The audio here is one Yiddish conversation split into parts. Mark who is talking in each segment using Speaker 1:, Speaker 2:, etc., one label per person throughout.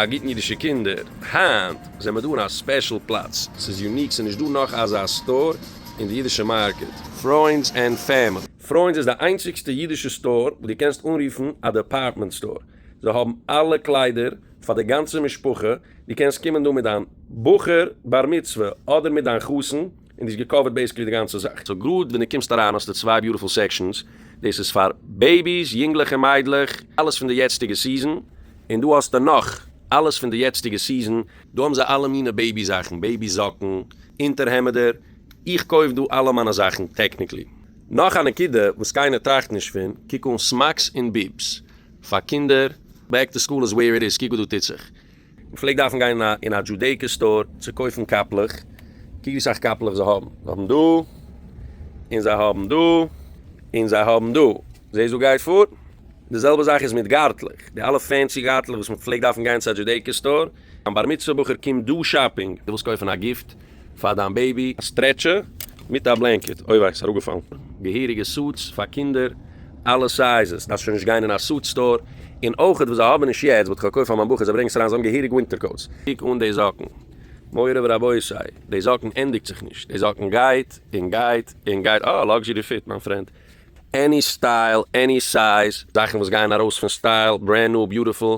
Speaker 1: א גוטן אידישע קינדער, היינט זעמער דא אין א ספעשל פלאץ, ס'איז יוניק, ס'איז נישט דא נאך אזא סטאר אין די אידישע מארקעט. פרוינדס ענד פעמילי. פרוינדס איז די איינציגסטע אידישע סטאר וואס דו קענסט אנרופן א דעפארטמענט סטאר, זיי האבן אלע קליידער פאר די גאנצע משפחה, דו קענסט קומען דא מיט דיין בחור בר מצוה אדער מיט דיין חתן און דאס געקאווערט בעיסיקלי די גאנצע זאך. סאו גראד ווען דו קומסט אריין האסטו צוויי ביוטיפול סעקשאנס, דאס איז פאר בעיביס, יונגלעך און מיידלעך, אלעס פון די יעצטיגע סיזען, און דא האסטו נאך, אלעס פון די יעצטיגע סיזען. דא האבן זיי אלע מינע בעיבי זאכן, בעיבי זאקן, אונטערהעמעדער, איך קויף דא אלע מיינע זאכן טעקניקלי. נאך א נקודה וואס קיינער טראכט נישט פון, קוק אן סמאקס און ביבס פאר קינדער, בעק טו סקול איז וועיר איט איז, קוק וואס דא טוט זיך, כ'פלעג דארפן גיין אין א דזשודעיקא סטאר צו קויפן קאפלעך, קוק ווי סאך קאפלעך זיי האבן, זיי האבן דא, און זיי האבן דא, און זיי האבן דא, זעסט וואס גייט פאר? די זעלבע זאך איז מיט גארטלעך, די אלע פענסי גארטלעך וואס מ'פלעגט דארפן גיין צו א דזשודעיקא סטאר, דיין בר מצוה בחור קומט דא שאפינג, דו ווילסט קויפן א גיפט? פאר דיין בעיבי. א סטרעטשער מיט א בלענקעט אוי וויי ס'איז אראפגעפאלן. געהעריגע סוטס פאר קינדער אלע סייזעס דארפסט שוין נישט גיין אין א סוט סטאר, און אויכעט וואס זיי האבן נישט יעצט וואלט איך געקויפט פאר מיין בחור זיי ברענגען עס אריין זיי האבן געהעריג ווינטער קאוטס. קוק אן די זאקן. מורי ורבותי, די זאקן ענדיגט זיך נישט, די זאקן גייט און גייט און גייט, אה לאקזשערי פיט מיין פרענד, עני סטייל, עני סייז, זאכן וואס גייען ארויס פון סטייל, ברענד ניו, ביוטיפול,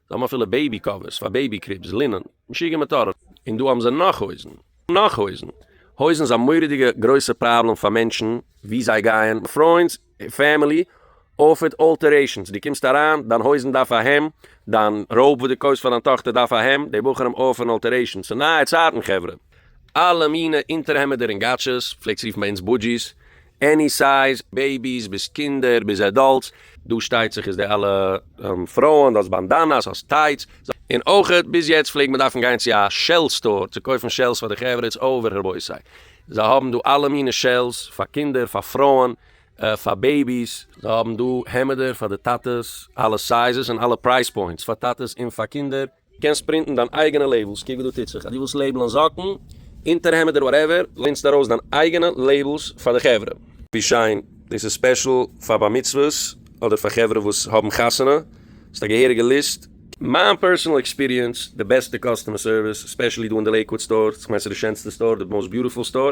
Speaker 1: זיי האבן אפילו בעיבי קאווערס פאר בעיבי קריבס, לינען, משוגע מטורף. און דא האבן זיי נאך הויזן. נאך הויזן. הויזן איז א מורא'דיגע גרויסע פראבלעם פאר מענטשן ווי זיי גייען, פרויענס, פעמילי אוטפיט אלטערעישאנס, דו קומסט אריין, דיין הויזן דארף א העם, דיין ראוב וואס דו קויפסט פאר דיין טאכטער דארף א העם, די בחורים אויף אן אלטערעישאן, ס'נייע צייטן חברה. אלע מינע אונטערהעמעדער און גאטשעס, פלעגסט רופן ביי אונז בודזשיס, עני סייז, בעיביס ביז קינדער ביז עדאלטס, דא שטייט זיך איז די אלע פרויען, האסט באנדאנאס, האסט טייטס, און אויכעט ביז יעצט פלעגט מען דארפן גיין צו א שעל סטאר צו קויפן שעלס פאר די חברה, איטס אווער רבותי, זיי האבן דא אלע מינע שעלס, פאר קינדער, פאר פרויען, פאר בעיביס, זיי האבן דא העמעדער פאר די טאטעס, אלע סייזעס און אלע פרייז פוינטס, פאר טאטעס און פאר קינדער. קענסט פרינטן דיין אייגענע לעיבלס, קוק וואס דא טוט זיך, אז דו ווילסט לעיבלען זאקן, אונטערהעמעדער וואטעווער, לינסט ארויס דיין אייגענע לעיבלס פאר די חברה. ווי שיין, דאס איז ספעשל פאר בר מצוות אדער פאר חברה וואס האבן חתונה, ס'איז א געהעריגע ליסט. מיין פערסענעל עקספיריענס, די בעסטע קאסטומער סערוויס, ספעשעלי דא אין די לעיקוואד סטאר, כ'מיין ס'איז די שענסטע סטאר, די מאוסט ביוטיפול סטאר.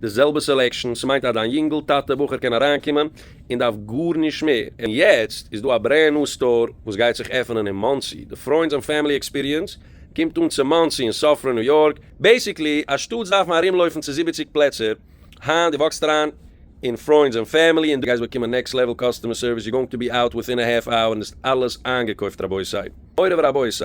Speaker 1: די זעלבע סעלעקשאן, ס'מיינט אז דיין יונגל טאטע בחור קען אריינקומען און דארף גארנישט מער, און יעצט איז דא א ברענד ניו סטאר וואס גייט זיך עפענען אין מאנסי, די פרוינדס און פעמילי עקספיריענס קומט אן צו מאנסי אין סאפרא ניו יארק, בעסיקלי א שטאטס דארף מען ארומלויפן צו זיבעציק פלעצער, היינט דו וואקסט אריין אין פרוינדס און פעמילי און דו גייסט באקומען נעקסט לעוועל קאסטומער סערוויס, יו גאוינג טו בי אוט וויטין א העלף אווער און דאס אלעס איינגעקויפט רבותי מורי ורבותי.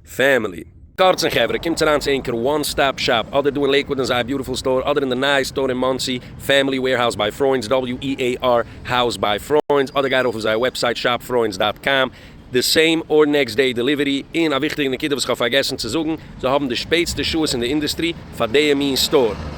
Speaker 1: פעמילי. קורצן חברה, קומטס אריין צו ענקער וואן סטאפ שאפ, אדער דא אין לעיקוואד אין זייער ביוטיפול סטאר, אדער אין די נייע סטאר אין מאנסי, פעמילי וועירהאוז ביי פרוינדס, WEAR House by Freunds, אדער גיי ארויף אויף זייער וועבסייט shopfreunds דאט קאם, די סעים אר נעקסט דעי דעליווערי, און א וויכטיגע נקודה וואס איך האב פארגעסן צו זאגן, זיי האבן די שפעטסטע שעות אין די אינדוסטרי פאר דעיע מין סטאר.